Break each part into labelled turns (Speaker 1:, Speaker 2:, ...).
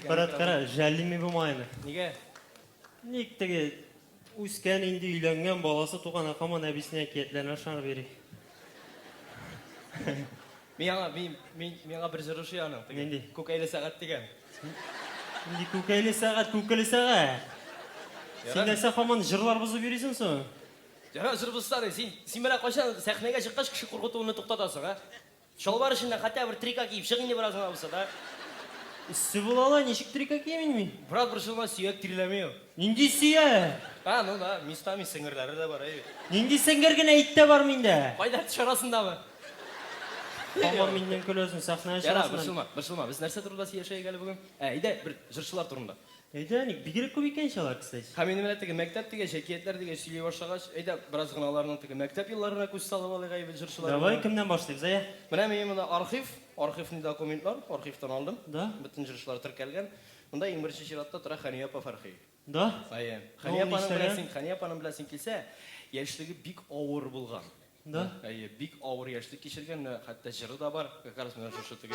Speaker 1: Брат, кара, жәллими бу майны. Нигә? Ник теге үскән инде өйләнгән баласы туган акаман әбисенә әкиятләренә ышанып йөри. Мин аңа мин мин миңа бер җыр ошый аның. Нинди? Күкәйле сәгать дигән. Нинди күкәйле сәгать, күкеле сәгать. Син нәрсә хаман җырлар бозып йөрисең соң? Ярар, җыр бозсаны. Син син менә кайчан сәхнәгә чыккач кеше куркытуны туктатасың, а? Чалбар эченнән хәтта бер трика киеп чык инде бераз гына булса да. Эссе була ла, ничек трика киям инде мин? Брат, борчылма, сөяк тирләми ул. Нинди сөяк? А, ну да, местами сеңерләре дә бар, әйе. Нинди сеңер генә ит тә бар миндә. Кайда, төш арасындамы? Һаман миннән көләсең, сәхнә чыгасың әле. Ярар, борчылма, борчылма, без нәрсә турында сөйләшәек әле бүген? Ә, әйдә, бер җырчылар турында. Әйдә, әни, бигрәк күп икән ич алар, кстати. Һәм инде менә теге мәктәп дигәч, әкиятләр дигәч сөйли башлагач, әйдә, бераз гына аларның теге мәктәп елларына күз салып алыйк әйбәт җырчылар белән. Давай, кемнән башлыйбыз, әйә? Менә минем монда архив, архивный документлар, архивтан алдым. Да? Бөтен җырчылар теркәлгән. Монда иң беренче чиратта тора Хәния апа Фәрхи. Да? Әйе. Ну, ул ни эшләгән? Хәния апаның белән син килсә, яшьлеге бик авыр булган. Да? Әйе, бик авыр яшьлек кичергән, менә хәтта җыры да бар, как раз менә шушы теге.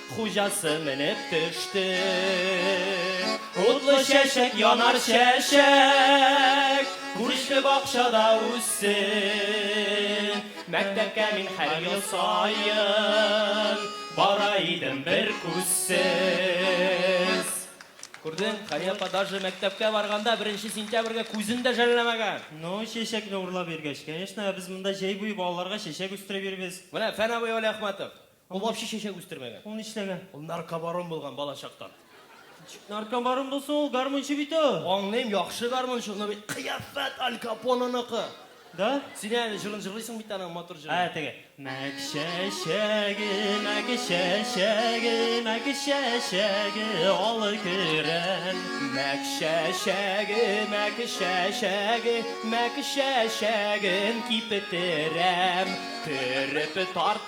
Speaker 1: Хуҗасы менеп төште. Утлы чәчәк янар чәчәк, Күрешле бакчада үссен. Мәктәпкә мин һәр ел саен, Бара идем бер күзсез. Күрдең, Хәния апа даже мәктәпкә барганда беренче сентябрьгә күзен дә жәлләмәгән. Ну, чәчәкне урлап йөргәч, конечно, ә без монда җәй буе балаларга чәчәк үстереп йөрибез. Менә Фән абый Вәлиәхмәтов. Ул вообще чәчәк үстермәгән. Ул нишләгән? Ул наркобарон булган балачактан. Ничек наркобарон булсын, ул гармунчы бит ул. Аңлыйм, яхшы гармунчы, но бит кыяфәт Аль Капоныныкы. Да? Син әле җырын җырлыйсың бит аның матур җырын. Ә, теге. Мәк чәчәге, мәк чәчәге, мәк чәчәге, олы көрән. Мәк чәчәге, мәк чәчәге, мәк чәчәген кипетерәм. Төреп тарт.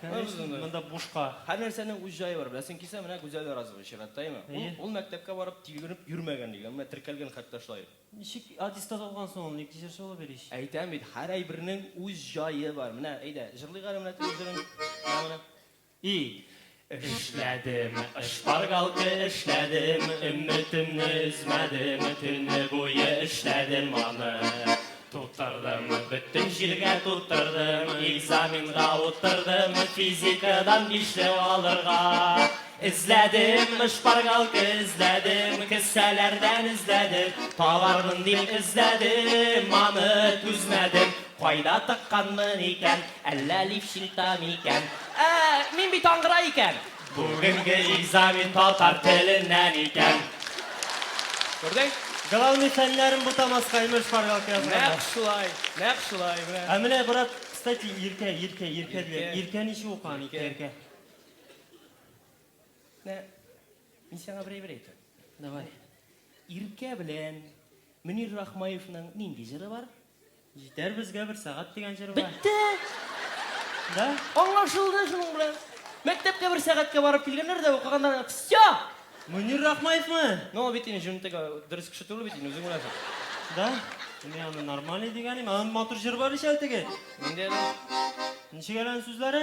Speaker 1: Конечно, монда бушка. Һәр нәрсәнең үз җае бар. Беләсең килсә, менә Гүзәл Яразова чираттә, әйеме? Ул, Әйе. ул мәктәпкә барып тилгереп йөрмәгән дигән, менә теркәлгән хәтта шулай. Ничек аттестат алган соң ул, ник тишерче булып йөри ич? Әйтәм бит, һәр әйбернең үз җае бар. Менә, әйдә, җырлыйк әле менә теге җырын. Менә моны. И. Эшләдем, шпаргалка эшләдем, Өметемне өзмәдем, Төне буе эшләдем аны. Тутырдым, бөтен җиргә тутырдым, экзаменга утырдым, физикадан бишле алырга. Эзләдем, шпаргалка эзләдем, кесәләрдән эзләдем, табармын дип эзләдем, аны түзмәдем. Кайда тыкканмын икән, әллә лифчилта микән? Ә, мин бит аңгыра икән. Бүгенге экзамен татар теленнән икән. Күрдең? Главный фәннәрен бутамаска имеш шпаргалка язганда. Нәкъ шулай, нәкъ шулай, менә. Ә менә брат, кстати, иркә, иркә, иркә диләр. Иркә ничек укыган, иркә, иркә? Менә мин сиңа бер әйбер әйтәм. Давай. Иркә белән Мөнир Рахмаевның нинди җыры бар? Җитәр безгә бер сәгать дигән җыр бар. Бетте! Да? Аңлашылды шуның белән. Мәктәпкә бер сәгатькә барып килгәннәр дә укыганнар. Все! Мөнир Рахмаевмы? Ну, бит инде җөнтәгә дөрес кеше түгел бит инде, үзең беләсең. Да? Мин аны нормальный дигән идем. Аның матур җыры бар ич әле теге. Нинди әле? Ничек әле аның сүзләре?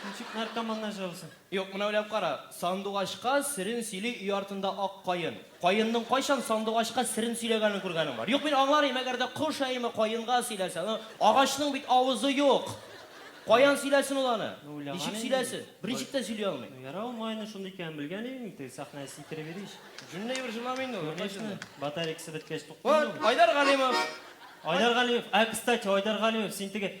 Speaker 1: Ничек наркоманнар җавызы? Юк, менә уйлап кара, сандугачка серен сөйли өй артында ак каен. Каенның кайчан сандугачка серен сөйләгәнен күргәнең бар? Юк, мин аңлар идем, әгәр дә кош әеме каенга сөйләсә, ну, агачның бит авызы юк. Каян сөйләсен ул аны? Ну, уйлаган Ничек инде мин. сөйләсен? Берничек тә сөйли алмый. Ну, ярар, ул майонез шундый икәнен белгән идем мин, теге сәхнәне сикереп йөри ич. Җүнле әйбер җырламый инде ул, юкка Конечно, җырла. батарейкасы беткәч туктый инде Вот, ул. Айдар Галимов! Айдар Галимов, ә, кстати, Айдар Галимов, син теге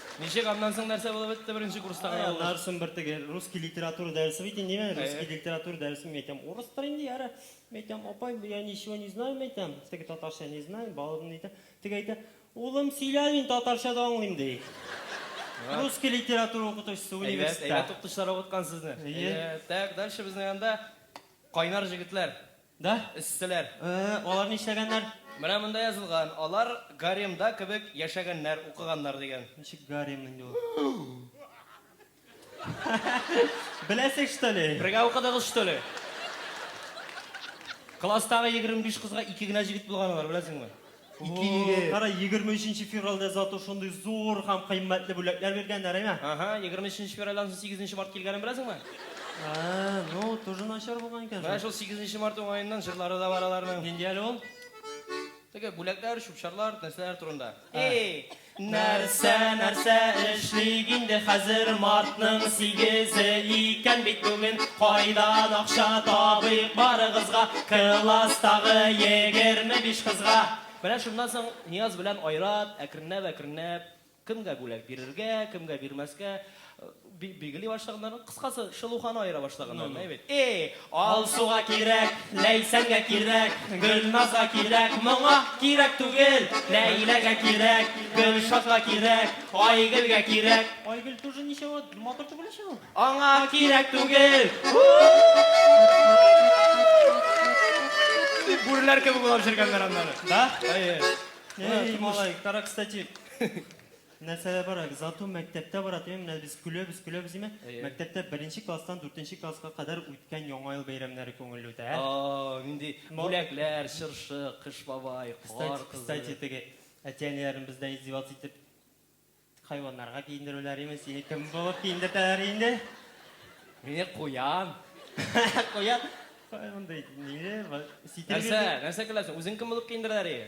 Speaker 1: Ничек, аннан соң нәрсә булып бетте беренче курста гына булды? Аннарсын бертеге русский литература дәресе бит инде, мин русский литература дәресе мин әйтәм, урыстыр инде, яра, мин әйтәм, апай, я ничего не знаю, мин әйтәм, теге татарча не знаю, балалар мин әйтә, теге әйтә, улым, сөйлә, мин татарча да аңлыйм, ди. Русский литература укытучысы университетта. Әйбәт, әйбәт укытучылар укыткан сезне. Әйе. Әйбәт. Так, дальше безнең анда кайнар җегетләр. Да, эсселәр. Э-э, алар нишләгәннәр? Менә монда язылган, алар гаремда кебек яшәгәннәр, укыганнар дигән. Ничек гарем инде ул? Беләсең, что ли? Бергә укыдыгыз, что ли? Класстагы егерме биш кызга ике генә җегет булган алар, беләсеңме? Ике егет. Кара, 23 февральдә зато шундый зур һәм кыйммәтле бүләкләр биргәннәр, әйме? Ага, 23 февральдән соң 8 март килгәнен беләсеңме? Ә, ну, тоже начар булган икән Менә шул. шул 8 март уңаеннан җырлары да бар аларның. Нинди әле ул? Теге бүләкләр, чүп-чарлар, нәрсәләр турында. Эй, Нәрсә, нәрсә эшлик инде хәзер, мартның сигезе икән бит бүген, кайдан акча табыйк барыгызга, класстагы егерме биш кызга? Менә шуннан соң Нияз белән Айрат әкренләп-әкренләп кемгә бүләк бирергә, кемгә бирмәскә, Бик билгели башлаганнармы? Кыскасы, шылуханы аера башлаганнармы? Әйбәт. Эй! Алсуга кирәк, Ләйсәнгә кирәк, Гөлназга кирәк, моңа кирәк түгел, Ләйләгә кирәк, Гөлшатка кирәк, Айгөлгә кирәк. Айгөл тоже ничего, матур түгел ич ул. Аңа кирәк түгел. Дип бүреләр кебек улап җөргәннәр аннары. Да? Әйе. Эй, малай, каракстати. Нәрсәдә бара? Зату мәктәптә бара димени? Менә без көләбез, көләбез димени? Әйе. Мәктәптә беренче класстан дүртенче класска кадәр үткән Яңа ел бәйрәмнәре күңелле үтә, ә? О-о-о, нинди Мо бүләкләр, чыршы, Кыш бабай, Кар Кстати, кызы. кстати, теге әти-әниләрнең бездән издеваться итеп хайваннарга киендерүләре имени? Сине кем булып киендертәләр инде? Мине куян. Куян? Кая мондый, ниле, ситер Нәрсә, бирде. нәрсә көләсең? Үзең кем булып киендерәләр ие?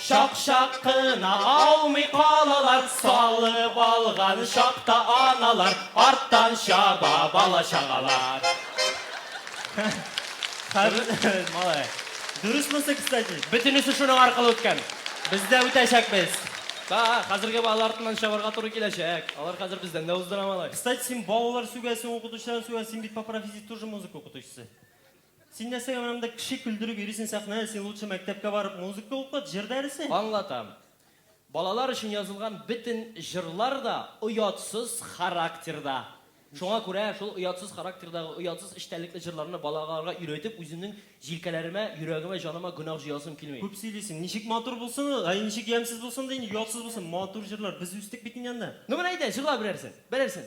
Speaker 1: Чак-чак кына аумый калалар, Салып алган чакта аналар, Арттан чаба бала-чагалар. Дөрес монсы, кстати. Бөтенесе шуның аркылы үткән. Без дә үтәчәкбез. Та, хәзерге балалар артыннан чабарга туры киләчәк. Алар хәзер бездән дә уздыра, малай. Кстати, син балалар сүгәсең, укытучылар сүгә, син бит по профессии тоже музыка укытучысы. Син нәрсәгә менә монда кеше көлдереп йөрисең сәхнә, син лучше мәктәпкә барып музыка укыт, җыр дәресе. Аңлатам. Балалар өчен язылган бөтен җырлар да оятсыз характерда. Шуңа күрә шул оятсыз характердагы, оятсыз эчтәлекле җырларны балаларга өйрәтеп, үземнең җилкәләремә, йөрәгемә, җаныма гөнаһ җыясым килми. Күп сөйлисең. Ничек матур булсын ул, әй ничек ямьсез булсын да инде, оятсыз булсын. Матур җырлар. Без үстек бит инде анда. Ну менә әйдә, җырла берәрсен. Берәрсен.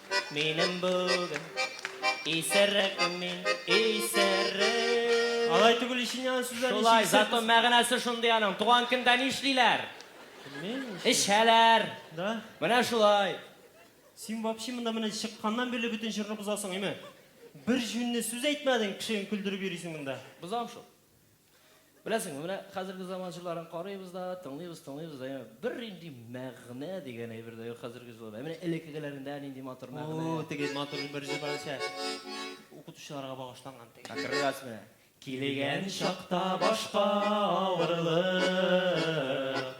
Speaker 1: Минем бүген исерекем мин, исерек. Алай түгел ичен яна сүзләр ничек Шулай, исерек? зато мәгънәсе шундый аның. Туган көндә нишлиләр? Мин Эчәләр. Да. Менә шулай. Син вообще монда менә чыкканнан бирле бөтен җырны бозасың, име? Бер җүнле сүз әйтмәдең, кешене көлдереп йөрисең монда. Бозам шул. Беләсеңме, менә хәзерге заман җырларын карыйбыз да, тыңлыйбыз, тыңлыйбыз да, яме бер нинди мәгънә дигән әйбер дә юк хәзерге җырларда. Менә элеккегеләрендә нинди матур мәгънә. О, теге матур бер җыр бар исә, укытучыларга багышланган теге. Как раз менә. Килгән чакта башка авырлык.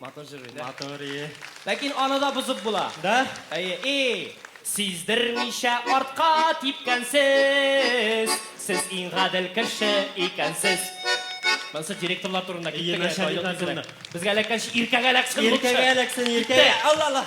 Speaker 1: Матур җырлый, да? Матур, ие. Ләкин аны да бозып була. Да? Әйе, и! Сиздермичә артка типкәнсез, сез иң гадел кеше икәнсез. Монысы директорлар турында китте. Ие, начальниклар турында. Безгә эләккәнче иркәгә эләксен лучше. Иркәгә эләксен, иркәгә. Алла, алла.